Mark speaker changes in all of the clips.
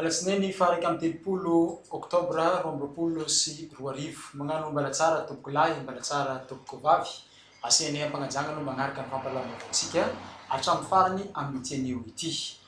Speaker 1: Alatsinainy faha iraika amby telopolo oktobra roa amby roapolo sy roa arivo. Magnano Mbalatsara tompoko lahy, Mbalatsara tompoko vavy. Asehanay am-pagnajagna aloha magnaraka ny fampahalalam-baovaontsika hatramin'ny farany amin'ity anio ity.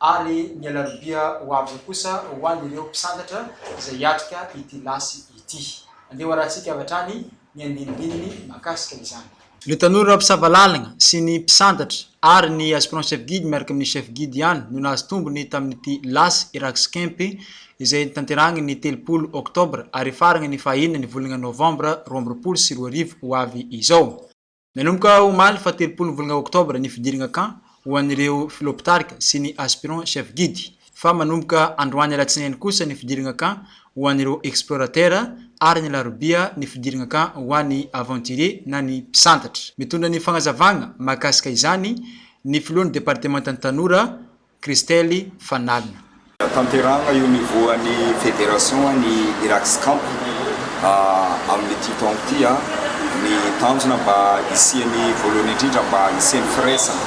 Speaker 1: ary ny alarobia ho avy eo kosa ho an'ireo mpisantatra izay hiatrika ity lasy ity. Andeha hoarahantsika avy hatrany ny andinindininy mahakasika izany. Ireo tanora mpisava lalagna sy ny mpisantatra ary ny aspirant chef guide miaraka amin'ny chef guide ihany no nahazo tombony tamin'ity lasy Eraxcamp izay notanterahagny ny telopolo oktobra ary hifaragna ny faha enina ny volagna novambra roa amby roapolo sy roa arivo ho avy izao. Nanomboka omaly fahatelopolo volana oktobra ny fidirana camp ho an'ireo Filoham-pitarika sy ny Aspirants Chefs Guides fa manomboka androany alatsinainy kosa ny fidirana camp ho an'ireo Explorateurs ary ny alarobia ny fidirana camp ho an'ny Aventuriers na ny Mpisantatra. Mitondra ny fanazavana mahakasika izany ny Filohan'ny Departemantan'ny Tanora, Christelle Fanalina. Tanterahana
Speaker 2: eo niveau-n'ny Fédération ny Iraks Camp amin'ity taona ity. Ny tanjona mba hisian'ny voalohany indrindra mba hisian'ny firaisana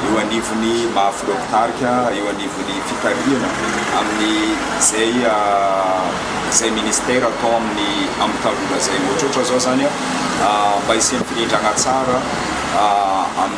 Speaker 2: eo anivon'ny maha filoha mpitarika eo anivon'ny fitarihana amin'izay izay ministère atao amin'ny amin'ny tanora izay. Ohatrohatra izao izany mba hisian'ny firindrana tsara amin'ny.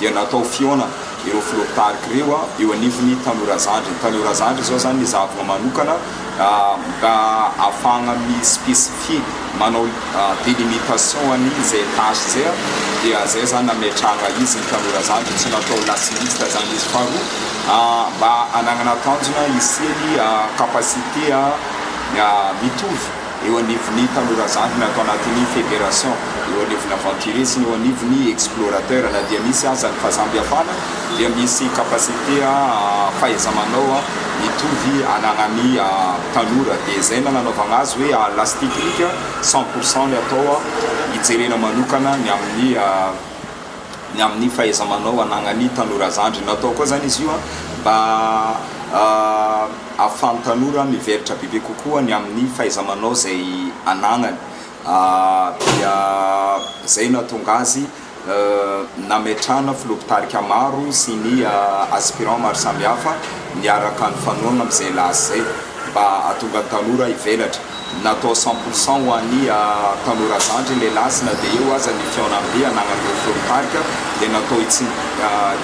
Speaker 2: dia natao fihaonana ireo filoha mpitarika ireo eo anivon'ny Tanora Zandry. Ny Tanora Zandry izao izany ny zahavoa manokana mba hahafahana mi-specifier, manao delimitation an'izay tâche izay dia izay izany nametrahana izy ny Tanora Zandry, tsy natao last liste izany izy. Faharoa, mba hananana tanjona hisian'ny capacité mitovy. eo anivon'ny tanora zandry na ato anatin'ny fédération, eo anivon'ny aventurier sy ny eo anivon'ny explorateur, na dia misy aza ny fahasamiafana dia misy capacité fahaiza-manao mitovy ananan'ny tanora, dia izay no nanaovana azy hoe à l'as technique cent pour cent ny atao hijerena manokana ny amin'ny. ny amin'ny fahaiza-manao anagnan'ny tanora zandry. Natao koa izany izy io mba ahafahan'ny tanora mivelatra bebe kokoa ny amin'ny fahaiza-manao izay anagnany. Dia izay no nahatonga azy nametrahana filoha mpitarika maro sy ny aspirants maro samihafa niaraka nifanohagna amin'izay laza izay mba hahatonga ny tanora hivelatra. Natao cent pour cent ho an'ny tanora zandry ny lasy na dia eo aza ny fihaonambe anagnan'ireo mpirongo tarika dia natao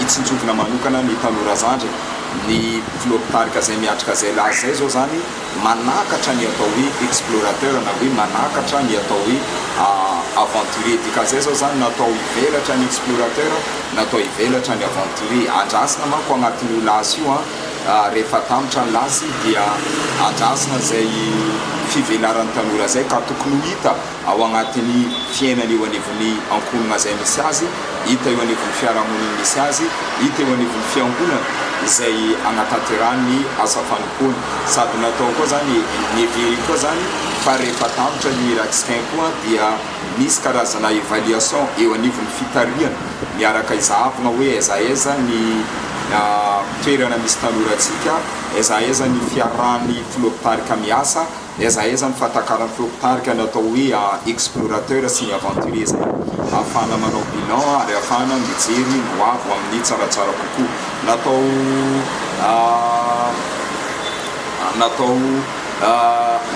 Speaker 2: hitsinjovina manokana ny tanora zandry ny filoha mpitarika izay miatrika izay lasy izay izao izany manakatra ny atao hoe explorateur na hoe manakatra ny atao hoe aventurier dika izay izao izany natao hivelatra ny explorateur natao hivelatra ny aventurier andrasina manko anatin'io lasy io an Rehefa atambatra ny lasy dia adrasana izay fivelaran'ny tanora izay ka tokony ho hita ao agnatin'ny fiainany eo anivon'ny ankohonana izay misy azy, hita eo anivon'ny fiarahamoniny misy azy, hita eo anivon'ny fiangonana izay agnatanterahany ny asa fanompoany. Sady natao koa izany, neveriko koa izany fa rehefa atambatra io Iratsikain koa dia. Misy karazana evaluation eo anivon'ny fitarihana miaraka izahavina hoe aiza aiza ny toerana misy tanorantsika, aiza aiza ny fiarahan'ny filoha mpitarika miasa, aiza aiza ny fatakaran'ny filoha mpitarika ny atao hoe explorateur sy ny aventurier izay ahafahana manao bilan ary ahafahana mijery ny hoavy ho amin'ny tsaratsara kokoa. Natao natao.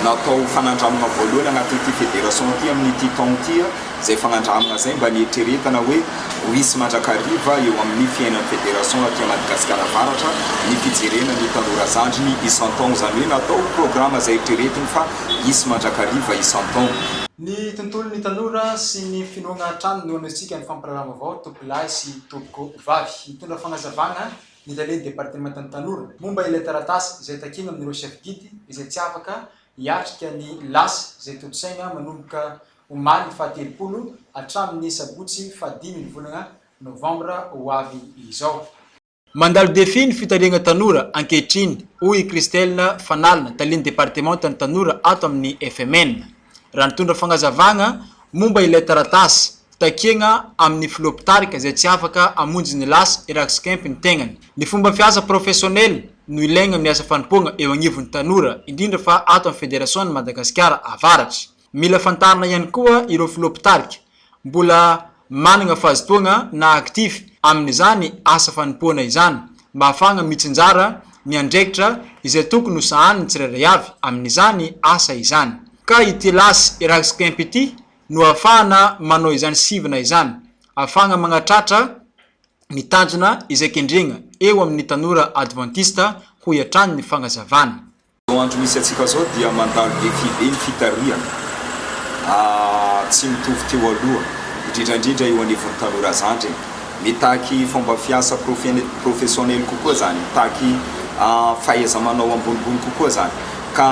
Speaker 2: natao fanandramana voalohany anatin'ity federation ity amin'ity taona ity, izay fanandramana izay mba nieritreretana hoe ho hisy mandrakariva eo amin'ny fiainan'ny federation aty Madagasikara Avaratra ny fijerena ny tanora zandriny isan-taona, izany hoe natao programa izay eritreretiny fa hisy mandrakariva isan-taona. Ny
Speaker 1: tontolon'ny tanora sy ny finoagna hatrany no anehoantsika ny fampirahalahy vaovao, tompolahy sy tompoko vavy. Hitondra fagnazavagna ny Lele Departemantan'ny Tanora momba ilay taratasy izay takiana amin'ireo Chef Guide izay tsy afaka hiatrika ny lasa izay tontosaina manomboka omaly faha telopolo hatramin'ny sabotsy faha dimy ny volana novambra ho avy izao. Mandalo défi ny fitariagna tanora ankehitriny, hoy i Christelle Fanalina, talen'ny Departemantan'ny Tanora ato amin'ny FMN, raha nitondra fagnazavagna momba ilay taratasy Takiana amin'ny filoha mpitarika izay tsy afaka hamonjy ny lasa iraksikaimpy ny tegnany. Ny fomba fiasa professionnel no ilaigna amin'ny asa fanompoagna eo agnivon'ny tanora, indrindra fa ato amin'ny Federasionan'i Madagasikara Avaratra. Mila fantarina ihany koa ireo filoha mpitarika mbola managna fahazotoagna na actif amin'izany asa fanompoana izany mba hahafahagna mitsinjara ny andraikitra izay tokony ho sahanin'ny tsirairay avy amin'izany asa izany. Ka ity lasa iraksikaimpy ity no ahafahana manao izany sivana izany, ahafahana manatratra ny tanjona izay kendrena eo amin'ny tanora advantista, hoy hatrany ny fanazavana. Izao andro misy
Speaker 2: antsika izao dia mandalo defi be ny fitarihana, tsy mitovy teo aloha, indrindra indrindra eo anivon'ny tanora zandry e. Mitaky fomba fiasa professionnel kokoa izany, mitaky fahaiza-manao ambonimbony kokoa izany. ka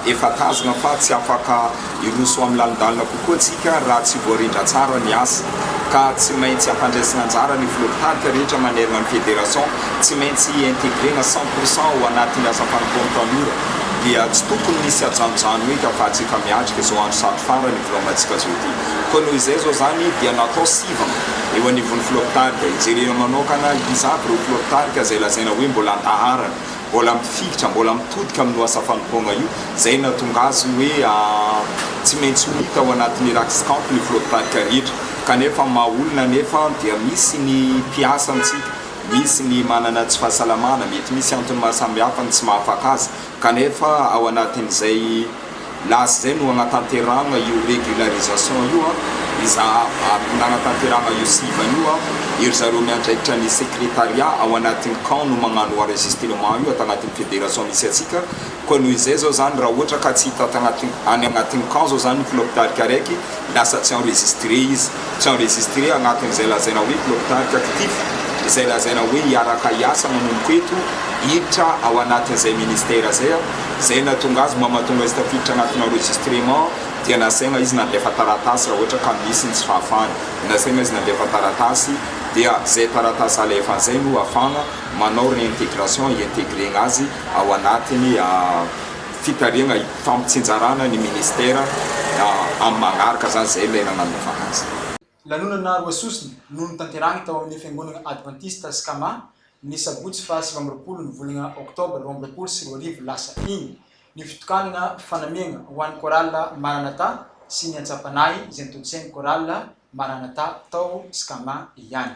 Speaker 2: efa tazona fa tsy afaka hiroso ho amin'ny lalindalina kokoa isika raha tsy voarindra tsara ny asa, ka tsy maintsy ampandraisina anjara ny filoha mpitarika rehetra manerana ny federation, tsy maintsy integrena cent pour cent ao anatin'ny asam-panompoan'ny tanora, dia tsy tokony misy ajanojano eka fa atsika miatrika izao andro sarotra farany hivolamantsika izao ity, koa noho izay izao izany dia natao sivana eo anivon'ny filoha mpitarika, hijerena manokana izato ireo filoha mpitarika izay lazaina hoe mbola an-daharana. mbola mifikitra, mbola mitodika amin'ny lohasaha fanompoana io, izay nahatonga azy hoe tsy maintsy ho hita ao anaty Miracles Camp ny filohampitarika rehetra. Kanefa ny maha olona anefa dia misy ny mpiasa amintsika, misy ny manana tsy fahasalamana, mety misy antony maha samihafa ny tsy maha afaka azy, kanefa ao anatin'izay, Lasa izay no hanatanterahagna io régularisation io an, i zahavavy no nanatanterahagna io sivana io an, ery zareo miandraikitra ny secrétariat ao anatin'ny camp no magnano enregistrement io ato agnatin'ny fédération misy antsika, koa noho izay zao zany raha ohatra ka tsy hita ato agnatin'ny, any agnatin'ny camp zao zany ny filoham-pitarika araiky, Lasa tsy enregistré izy. Tsy enregistré agnatin'izay lazaina hoe Blocktark actif, izay lazaina hoe hiaraka hiasa manomboka eto, hiditra ao anatin'izay ministère izay aho. Izay nahatonga azy mba mahatonga izy tafiditra agnatin'ny enregistrement dia nasaigna izy nandefa taratasy raha ohatra ka misy ny tsy fahafahany. Nasaigna izy nandefa taratasy dia izay taratasy alefany izay no ahafahagna manao réintégration, hi-intégrer-gna azy ao anatin'ny. fitarihana hifampitsinjarana ny ministera amin'ny manaraka izany izay ilay nananaovana azy. Lanonana roa
Speaker 1: sosona no notanterahiny tao amin'ny Fiangonana Advantista Skama ny sabotsy faha sivy amby roapolo ny volana oktobra roa amby roapolo sy roa arivo lasa iny, ny fitokanana fanamiana ho an'ny Chorale Maranatha sy ny antsampanahy izay notontosain'ny Chorale Maranatha tao Skama ihany.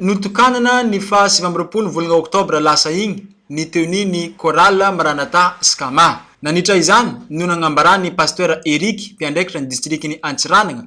Speaker 1: Notokanana ny faha sivy amby roapolo volana oktobra lasa iny ny tenue ny chorale Maranatha Skama. Nanitra izany no nagnambaràn'ny Pasteur Eric, mpiandraikitra ny distrikan'i Antsiranana,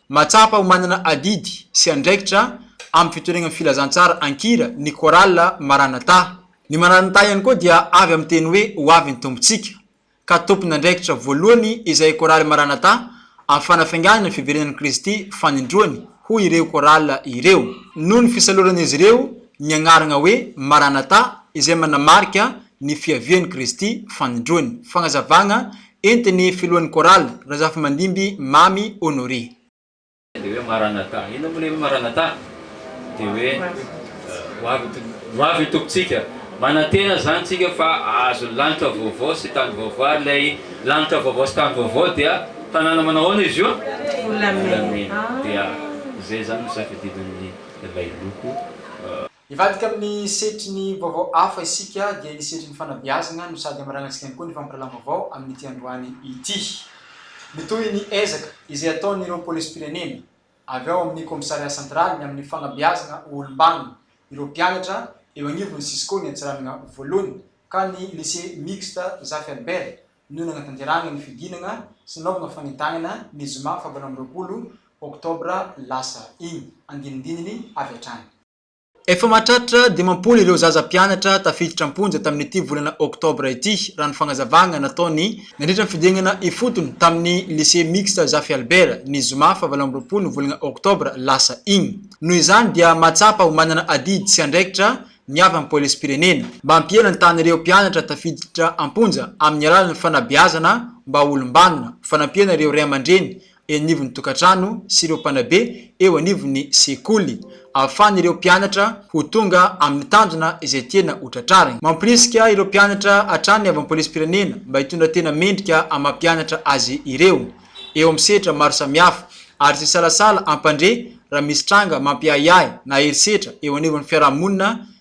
Speaker 1: Mahatsapa ho manana adidy sy andraikitra amin'ny fitoriana ny filazantsara an-kira ny Chorale Maranatha. Ny Maranatha ihany koa dia avy amin'ny teny hoe Ho avy ny Tompontsika, ka tompon'andraikitra voalohany izay Chorale Maranatha amin'ny fanafainganana ny fiverenan'i Kristy fanindroany hoy ireo Chorale ireo. Noho ny fisaloran'izy ireo ny agnaragna hoe Maranatha izay manamarika ny fiavian'i Kristy fanindroany. Fagnazavagna entin'ny filohan'ny chorale, Razafimandimby Mamy Honoré. Dia hoe
Speaker 3: Maranatha, inona moa ilay hoe Maranatha? Dia hoe ho avy ho avy ny Tompontsika. Manantena izany isika fa hahazo lanitra vaovao sy tany vaovao ary ilay lanitra vaovao sy tany vaovao dia tanàna manao ahoana izy io? Volamena. Dia izay izany no safidinan'ny lailoko. Hivadika
Speaker 1: amin'ny setry ny vaovao hafa isika dia ny setry ny fanabeazana no sady hamaranantsika ihany koa ny fampirahalalam-baovao amin'ity androany ity. Mitohy ny ezaka izay ataon'ireo polisim-pirenena avy ao amin'ny Kaomisaria Santraly ny amin'ny fanabeazana ho olom-banona ireo mpianatra eo anivon'ny Cisco ny Antsiranana Voalohany ka ny Lycée Mixte Zafy Albert no nanatanterahana ny fidinana sy nanaovana fanentanana ny zoma fahavalo amby roapolo oktobra lasa iny andinindininy avy hatrany. Efa mahatratra dimampolo ireo zaza mpianatra tafiditra am-ponja tamin'ity volana oktobra ity, raha ny fagnazavagna nataony. Nandritra ny fidingana ifotony tamin'ny Lycée Mixte Zafy Albert, ny zoma faha valo amby roapolo ny volagna oktobra lasa igny. Noho izany dia mahatsapa ho manana adidy sy andraikitra ny avy amin'ny Polisim-pirenena, mba hampiela ny tahan'ireo mpianatra tafiditra am-ponja amin'ny alalan'ny fanabeazana mba ho olom-banona, fanampiana ireo ray aman-dreny eny anivon'ny tokantrano sy ireo mpanabe eo anivon'ny sekoly, ahafahan'ireo mpianatra ho tonga amin'ny tanjona izay tiana ho tratrariny. Mampirisika ireo mpianatra hatrany avy amin'ny polisim-pirenena mba hitondra tena mendrika amam-pianatra azy ireo, eo amin'ny sehatra maro samihafa, ary tsy hisalasala hampandre raha misy tranga mampiahiahy na herisetra eo anivon'ny fiarahamonina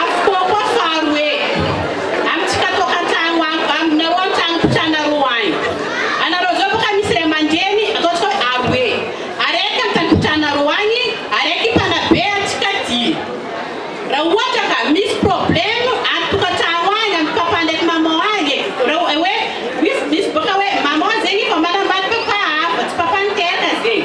Speaker 1: Avokoa koa faharoe, amintsika toa an-tragno any, aminareo an-tragno mpitranareo any. Anareo zao boka misy ray aman-dreny, ataontsika hoe aroe, araiky an-tragno mpitranareo any, araiky mpanabe antsika aty. Raha ohatra ka misy problème any tokantragno
Speaker 4: any, amin'ny papa ndraiky maman any e, raha hoe misy boka hoe maman zegny efa manambady papa hafa, tsy papa niteraka zegny.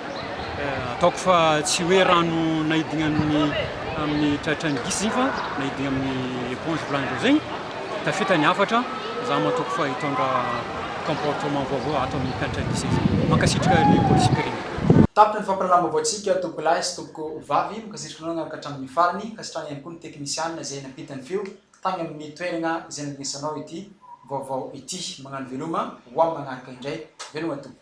Speaker 4: Ataoko fa tsy hoe rano naidina amin'ny amin'ny tratran'ny gisy zegny fa naidina amin'ny éponge volanin-dreo zegny, tafita ny hafatra, za matoky fa hitondra comportement vaovao ato amin'ny mpianatra gisy aty. Mankasitraka ny Polisikiriny. Tapitra ny fampahalalam-baovao
Speaker 1: tsika tompoko lahy sy tompoko vavy, mankasitraka anao niaraka hatramin'ny farany, ankasitrahana ihany koa ny teknisiana izay nampita ny feo tany amin'ny toerana izay nandrenesanao ity vaovao ity, magnano veloma, hoaho magnaraka indray, veloma tompoko.